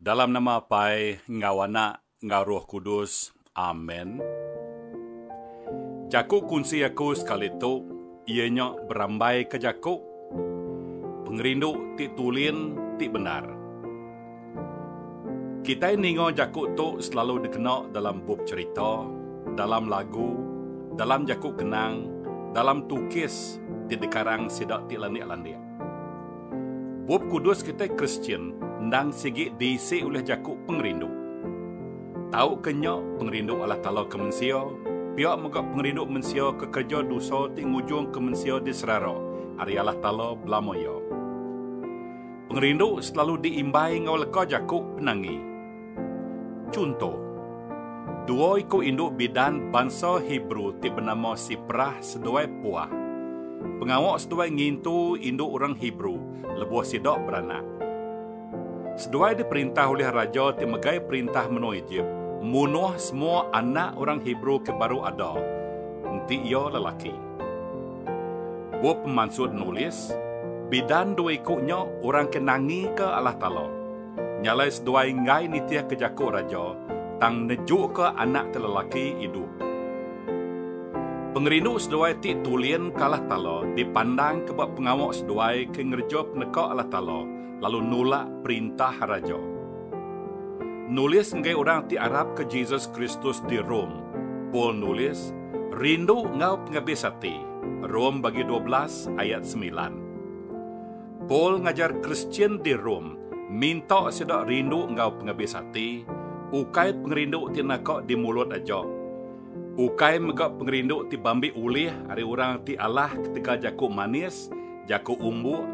Dalam nama Apai enggau Anak enggau Roh Kudus. Amen. Jaku kunsi aku sekali tu iya nya berambaika jaku pengerindu ti tulin ti bendar. Kitai ninga jaku tu selalu dikena dalam bup cherita, dalam lagu, dalam jaku kenang, dalam tukis ti dikarang sida ti landik-landik. Bup Kudus kitai Kristian endang sigi diisi ulih jaku pengerindu. Tauka nya, pengerindu Allatala ke mensia, pia mega pengerindu mensia ke kereja dosa ti ngujungka mensia diserara ari Allatala belama iya. Pengerindu selalu diimbai enggau leka jaku penangi. Chunto, dua iku indu bidan bansa Hebrew ti benama Siprah seduai Puah, pengawa seduai ngintu indu orang Hebrew lebuh sida beranak. Seduai diperintah ulih raja ti megai perintah menua Ejip munuh semua anak orang Hebrew ke baru ada, enti iya lelaki. Bup pemansut nulis, bidan dua iku nya orang ke nangika Allah Taala. Nya alai seduai enggai nitihka jaku raja, tang nejuka anak ke lelaki idup. Pengerindu seduai ti tulin ke Allah Taala dipandangka ba pengawa seduai ke ngereja peneka Allah Taala lalu nulak perintah raja. Nulis ngagai orang ti arapka Jesus Kristus di Rome, Paul nulis, Rindu enggau pengabis ati, Rome bagi dua belas ayat semilan. Paul ngajar Kristian di Rome minta sida rindu enggau pengabis ati, ukai pengerindu ti naka di mulut aja. Ukai mega pengerindu ti bambi ulih ari orang ti alah ketegal jaku manis, jaku umbuk,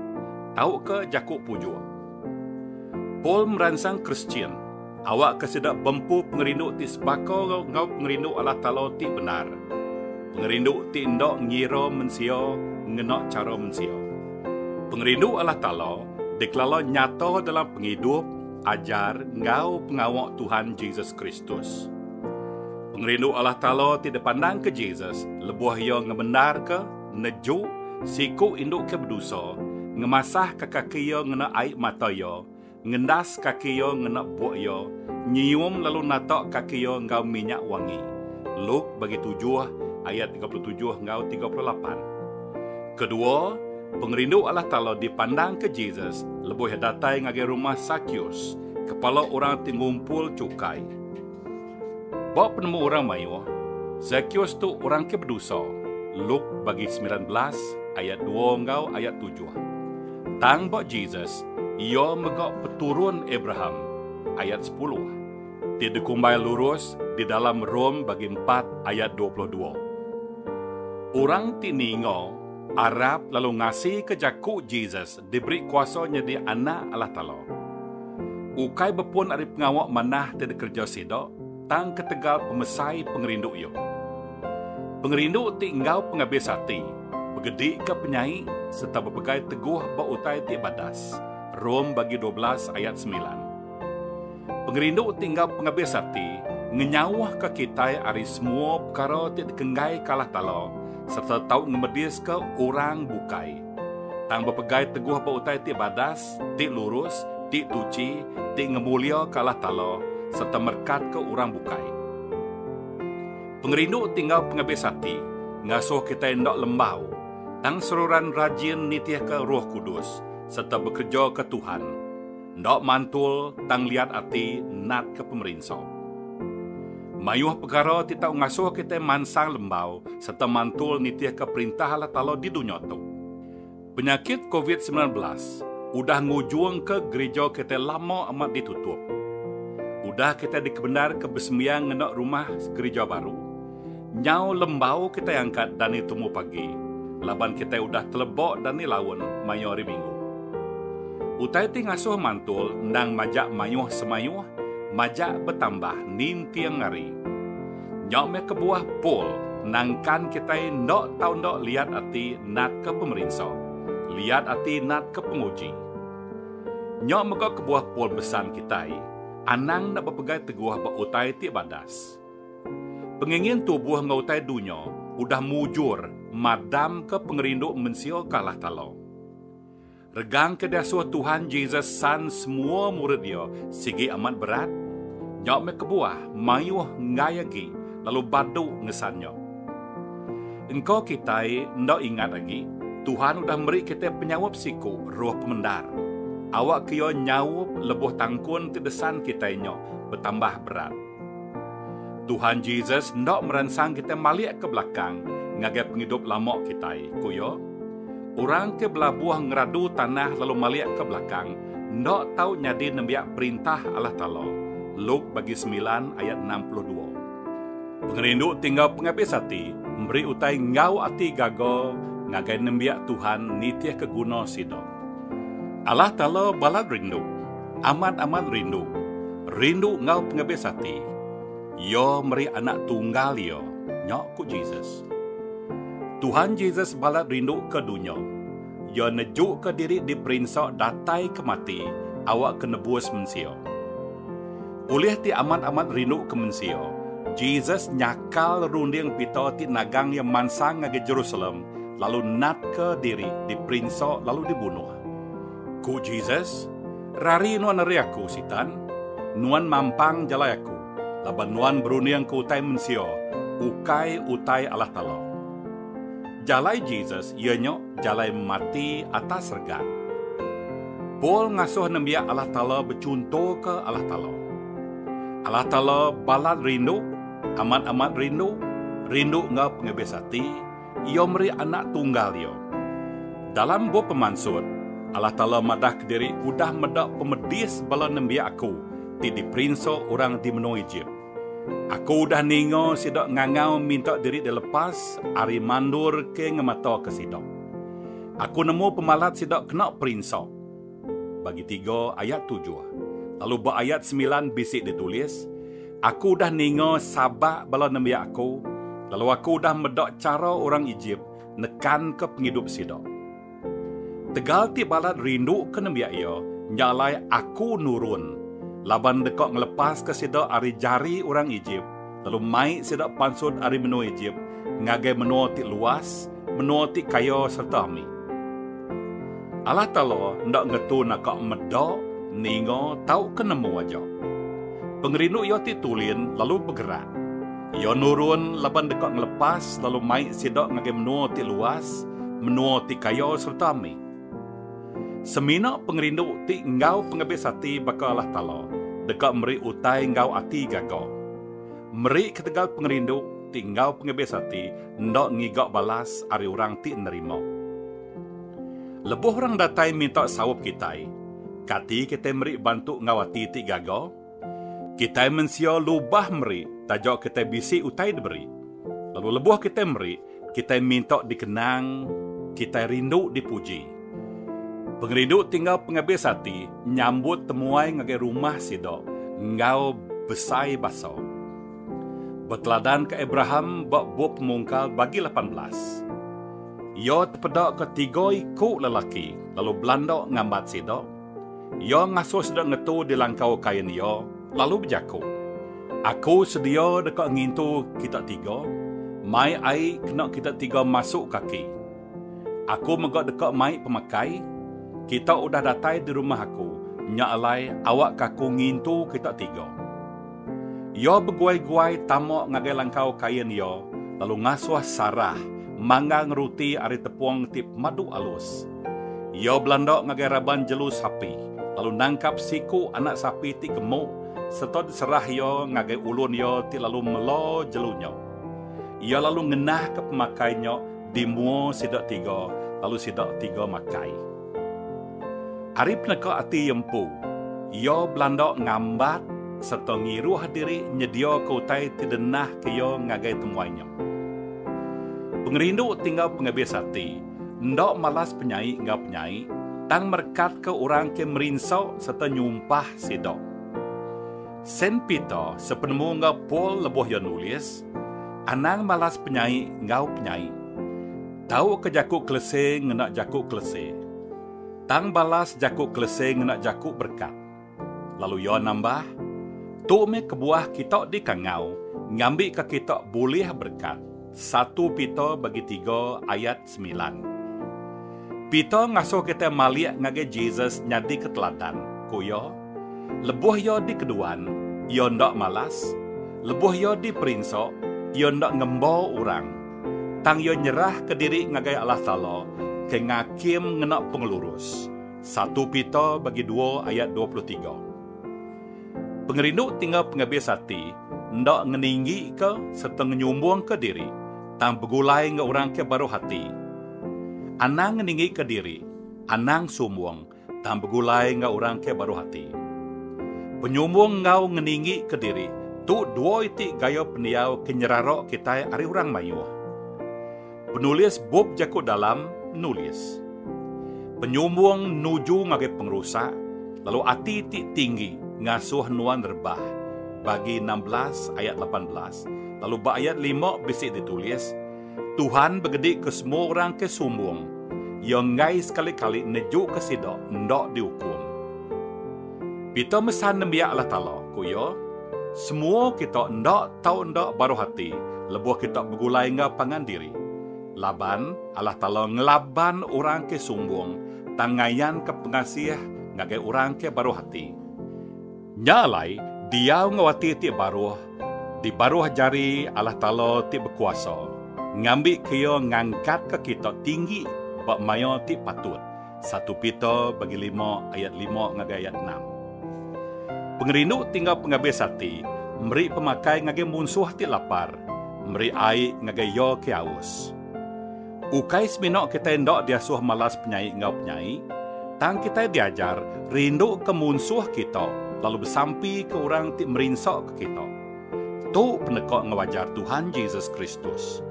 tauka jaku pujuk. Paul meransang Kristian. Awakka sida bempu pengerindu ti sebaka enggau pengerindu Allah Taala ti bendar, pengerindu ti enda ngira mensia ngena chara mensia. Pengerindu Allah Taala dikelala nyata dalam pengidup, ajar, enggau pengawa Tuhan Jesus Kristus. Pengerindu Allah Taala ti dipandangka Jesus lebuh iya ngebendarka, nejuk, siku indu ke bedosa, ngemasahka kaki iya ngena ai mata iya, Ngendas kaki iya ngena buk iya, nyium lalu natak kaki iya enggau minyak wangi. Luk bagi tujuh, ayat tiga puluh tujuh enggau tiga puluh lapan. Kedua, pengerindu Allah Taala dipandangka Jesus lebuh iya datai ngagai rumah Sakeus, kepala orang ti ngumpul chukai. Ba penemu orang mayuh, Zakeus tu orang ke bedosa, Luke bagi semilan belas ayat dua enggau ayat tujuh. Tang ba Jesus, iya mega peturun Abraham, ayat sepuluh, ti dikumbai lurus di dalam Rom bagi empat ayat dua puluh dua. Orang ti ninga arap lalu ngasika jaku Jesus diberi kuasa nyadi anak Allah Taala. Ukai bepun ari pengawa manah ti dikereja sida, tang ketegal pemesai pengerindu iya. Pengerindu ti enggau pengabis ati begedika penyai sereta bepegai teguh ba utai ti badas, Rom bagi dua belas ayat semilan. Pengerindu ti enggau pengabis ati ngenyauhka kitai ari semua pekara ti dikenggaika Allah Taala sereta tau ngemediska orang bukai. tang bepegai teguh ba utai ti badas, ti lurus, ti tuchi, ti ngemuliaka Allah Taala sereta merekatka orang bukai. Pengerindu ti enggau pengabis ati ngasuh kitai enda lembau, tang seruran rajin nitihka Roh Kudus sereta bekereja ke Tuhan. Enda mantul tang liat ati natka pemerinsa. Mayuh pekara ti tau ngasuh kitai mansang lembau sereta mantul nitihka Perintah Allah Taala di dunya tu. Penyakit Covid semilan belas udah ngujungka gerija kitai lama amat ditutup. Udah kitai dikebendarka besembiang ngena rumah gerija baru, Nyau lembau kitai angkat dani tumu pagi laban kitai udah telebok dani laun mayuh hari minggu. Utai ti ngasuh mantul endang majak mayuh semayuh majak betambah ninting hari. Nyau meh kebuah Paul nangkan kitai enda tau enda liat ati natka pemerinsa, liat ati natka penguji. Nyau mega kebuah Paul besan kitai anang enda bepegai teguh ba utai ti badas. Pengingin tubuh enggau utai dunya udah mujur madamka pengerindu mensia ke alah kala. Regangka diasuh Tuhan Jesus san semua murid iya sigi amat berat, nya meh kebuah mayuh enggai agi lalu badu ngesan nya. Engka kitai enda ingat agi, Tuhan udah meri kitai penyaup siku roh pemendar, awakka iya nyaup lebuh tangkun ke desan kitai nya betambah berat. Tuhan Jesus enda meransang kitai malik ke belakang ngagai pengidup lama kitai, ku iya. Orang ke belabuh ngeradu tanah lalu malik ke belakang enda tau nyadi nembiak Perintah Allah Taala, Luke bagi semilan ayat enam puluh dua. Pengerindu ti enggau pengabis ati meri utai enggau ati gaga ngagai nembiak Tuhan nitihka guna sida. Allah Taala balat rindu. Amat-amat rindu. Rindu enggau pengebis ati. Iya meri Anak Tunggal Iya nya, ku Jesus. Tuhan Jesus balat rindu ke dunya. Iya nejuka diri diperinsa datai ke mati awakka nebus mensia. Ulih ti amat-amat rindu ke mensia, Jesus nyakal runding pita ti nagang iya mansang ngagai Jerusalem lalu natka diri diperinsa lalu dibunuh. Ku Jesus, Rari nuan ari Aku, Sitan! Nuan mampang jalai Aku, laban nuan berundingka utai mensia, ukai utai Allah Taala. Jalai Jesus iya nya jalai mati atas regan. Paul ngasuh nembiak Allah Taala bechuntoka Allah Taala. Allah Taala balat rindu, amat-amat rindu, rindu enggau pengebis ati, Iya meri Anak Tunggal Iya. Dalam bup pemansut, Allah Taala madah kediri udah meda pemedis bala nembiak Aku ti diperinsa orang di menua Ejip. Aku udah ninga sida ngangau minta diri dilepas ari mandor ke ngemataka sida. Aku nemu pemalat sida kena perinsa. Bagi tiga ayat tujuh. Lalu ba ayat semilan bisi ditulis, Aku udah ninga sabak bala nembiak Aku, lalu Aku udah meda chara orang Ejip nekanka pengidup sida. Tegal ti balat rinduka nembiak iya, nya alai Aku nurun laban deka ngelepaska sida ari jari orang Ejip, lalu mai sida pansut ari menua Ejip ngagai menua ti luas, menua ti kaya sereta ami. Allah Taala enda ngetu naka meda, ninga, tauka nemu aja. Pengerindu Iya ti tulin lalu begerak. Iya nurun laban deka ngelepas lalu mai sida ngagai menua ti luas, menua ti kaya sereta ami. Semina pengerindu ti enggau pengebis ati baka Allah Taala deka meri utai enggau ati gaga. Meri ketegal pengerindu ti enggau pengebis ati enda ngiga balas ari orang ti nerima. Lebuh orang datai minta saup kitai, kati kitai meri bantu enggau ati ti gaga? Kitai mensia lubah meri taja kitai bisi utai diberi. Lalu lebuh kitai meri, kitai minta dikenang, kitai rindu dipuji. Pengerindu ti enggau pengabis ati nyambut temuai ngagai rumah sida enggau besai basa. Beteladanka Abraham ba Bup Pemungkal bagi lapan belas, iya tepedaka tiga iku lelaki lalu belanda ngambat sida. Iya ngasuh sida ngetu di langkau kain iya, lalu bejaku, Aku sedia deka ngintu kita tiga mai ai kena kita tiga masuk kaki. Aku mega deka mai pemakai, kita udah datai di rumah aku, nya alai awakka aku ngintu kita tiga. Iya beguai-guai tama ngagai langkau kain iya lalu ngasuh Sarah manggang ruti ari tepung ti pemadu alus. Iya belanda ngagai raban jelu sapi lalu nangkap siku anak sapi ti gemu sereta diserah iya ngagai ulun iya ti lalu mela jelu nya. Iya lalu ngenahka pemakai nya di mua sida tiga lalu sida tiga makai. Ari peneka ati iya empu, iya belanda ngambat sereta ngiruh diri nyediaka utai ti dinahka iya ngagai temuai nya. Pengerindu ti enggau pengabis ati enda malas penyai enggau penyai tang merekatka orang ke merinsa sereta nyumpah sida. Saint Peter sepenemu enggau Paul lebuh iya nulis, Anang malas penyai enggau penyai. Tauka jaku Kelese ngena jaku Kelese. Tang balas jaku Kelese ngena jaku berkat. Lalu iya nambah, Tu meh kebuah kita dikangau ngambika kita bulih berkat, satu Peter bagi tiga ayat semilan. Peter ngasuh kitai malik ngagai Jesus nyadika teladan, ku iya, Lebuh iya dikeduan, iya enda malas, lebuh iya diperinsa, iya enda ngemba orang, tang iya nyerahka diri ngagai Allah Taala ke ngakim ngena pengelurus, satu Peter bagi dua ayat dua puluh tiga. Pengerindu ti enggau pengabis ati enda ngeninggika sereta ngenyumbungka diri tang begulai enggau orang ke baruh ati. Anang ngeninggika diri, anang sumbung tang begulai enggau orang ke baruh ati. Penyumbung enggau ngeninggika diri tu dua iti gaya pendiau ke nyerara kitai ari orang mayuh. Penulis bup jaku dalam nulis. Penyumbung nuju ngagai pengerusak lalu ati ti tinggi ngasuh nuan rebah bagi enam belas ayat lapan belas lalu ba ayat lima bisi ditulis, Tuhan begedi ke semua orang ke sumbung, Iya enggai sekali-kali nejuka sida enda diukum. Pita mesan nembiak Allah Taala, ku iya, Semua kita enda tau enda baruh ati lebuh kita begulai enggau pangan diri. Laban, Allah Taala ngelaban orang ke sumbung, tang ngayanka pengasih ngagai orang ke baruh ati. Nya alai, diau enggau ati ti baruh di baruh jari Allah Taala ti bekuasa, ngambika Iya ngangkatka kita tinggi ba maya ti patut. Satu Peter bagi lima ayat lima ngagai ayat enam. Pengerindu tinggal pengabis ati, meri pemakai ngagai munsuh ti lapar, meri ai ngagai iya ke aus. Ukai semina kitai enda diasuh malas penyai enggau penyai, tang kitai diajar rinduka munsuh kita lalu besampika orang ti merinsaka kita. Tu peneka enggau ajar Tuhan Jesus Kristus.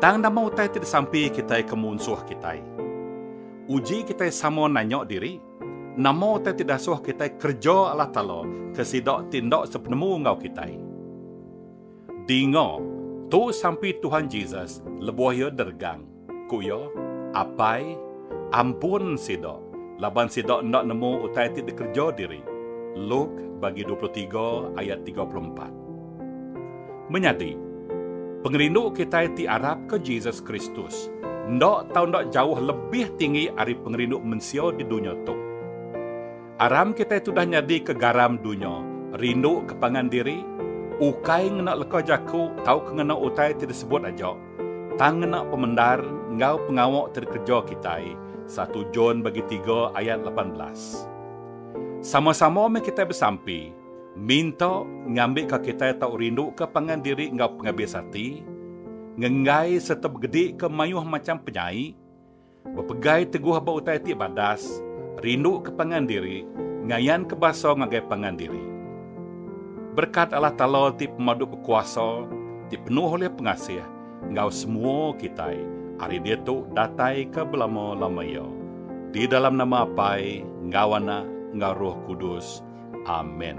Tang nama utai ti disampika kitai ke munsuh kitai? Uji kitai sama nanya diri, Nama utai ti dasuh kitai kereja Allah Taala ke sida ti enda sepenemu enggau kitai? Dinga, tu sampi Tuhan Jesus lebuh iya deregang, ku iya, Apai, ampun sida, laban sida enda nemu utai ti dikereja diri. Luk, bagi dua puluh tiga ayat tiga puluh empat. Menyadi, pengerindu kitai ti arapka Jesus Kristus enda tau enda jauh lebih tinggi ari pengerindu mensia di dunya tu. Aram kitai tudah nyadika garam dunya, rinduka pangan diri, ukai ngena leka jaku tauka ngena utai ti disebut aja, tang ngena pemendar enggau pengawa ti dikereja kitai, satu John bagi tiga ayat lapan belas. Sama-sama meh kitai besampi, Minta ngambika kitai tau rinduka pangan diri enggau pengabis ati, ngenggai sereta begedika mayuh macham penyai, bepegai teguh ba utai ti badas, rinduka pangan diri, ngayanka basa ngagai pangan diri. Berekat Allah Taala ti Pemadu Bekuasa, ti penuh ulih pengasih, enggau semua kitai ari ditu dataika belama-lama iya. Di dalam nama Apai, enggau Anak, enggau Roh Kudus. Amen.